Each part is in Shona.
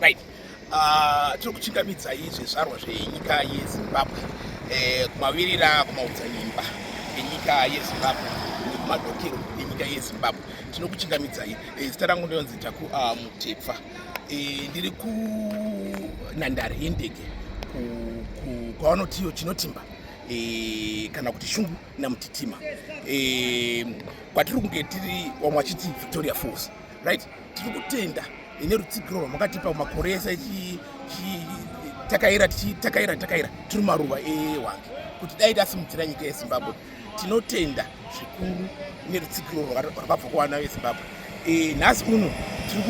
right ah, tiri kuchingamidza izvi zvarwa zvenyika yezimbabwe eh, kumavirira kumaodzanyimba enyika yezimbabwe nekumadokero enyika yezimbabwe tinokuchingamidzai eh, zita rangu ndinonzi taku ah, mutepfa e, ndiri kunhandare yendege kwavanotiyo chinotimba e, kana kuti shungu namutitima e, kwatiri kunge tiri wamwe vachiti victoria falls right tiri kutenda ine rutsigiro rwamakatipa makore ese takaira takaira takaira tiri maruva ewange kuti dai tasimudzira nyika yezimbabwe tinotenda zvikuru nerutsigiro rwakabva kuvana vezimbabwe e, nhasi uno tiri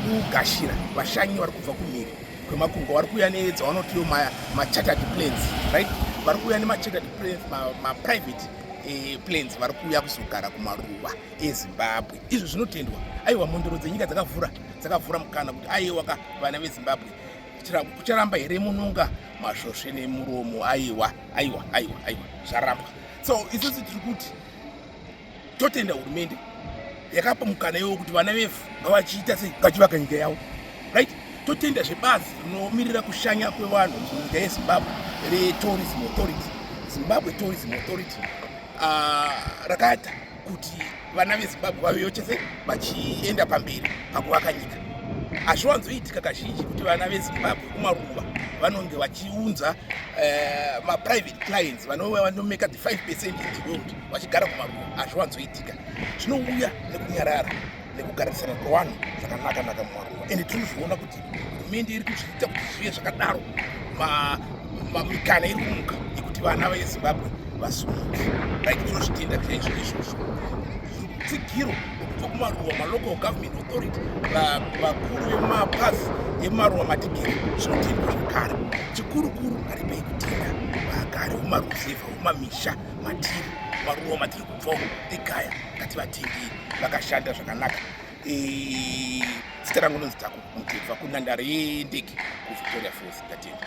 kugashira vashanyi vari kubva kumhiri kwemakungo vari kuuya nedzavanotiwo machartered plans right vari kuuya nemachartered plans maprivate e, plans vari kuuya kuzogara kumaruva ezimbabwe izvo zvinotendwa aiwa mhondoro dzenyika dzakavhura dzakavhura mukana kuti aiwa ka vana vezimbabwe kucharamba here mununga masvosve nemuromo aiwa aiwa aiwa aiwa zvarambwa so isusu tiri kuti totenda hurumende yakapa mukana iwo kuti vana vefu ngavachiita sei vachivaka nyika yavo right totenda zvebazi rinomirira kushanya kwevanhu munyika yezimbabwe retourism authority zimbabwe tourism authority uh, ah, rakata kuti vana vezimbabwe vavewo chese vachienda pamberi pakuvaka nyika hazviwanzoitika kazhinji kuti vana vezimbabwe kumaruva vanonge vachiunza eh, maprivate clients vanove vanomeka the 5 percent in the world vachigara kumaruva hazviwanzoitika zvinouya nekunyarara nekugarisana kwevanhu zvakanaka naka mumaruwa ende tiri kuzviona kuti hurumende iri kuzviita kuti zvive zvakadaro mamikana iri kumuka yekuti vana vezimbabwe vasumuke like tinozvitenda chaizvo izvozvo tsigiro kubva kumaruwa malocal government authority vakuru vemapazi emaruwa matigiri zvinotendwa zvekare chikurukuru aripei kutenda vagari vemaruzevha vemamisha matiri maruwa matiri kubvawo egaya ngativatendei vakashanda zvakanaka zita rangu nonzi takumutebva kunhandare yendege kuvictoria falls ndatenda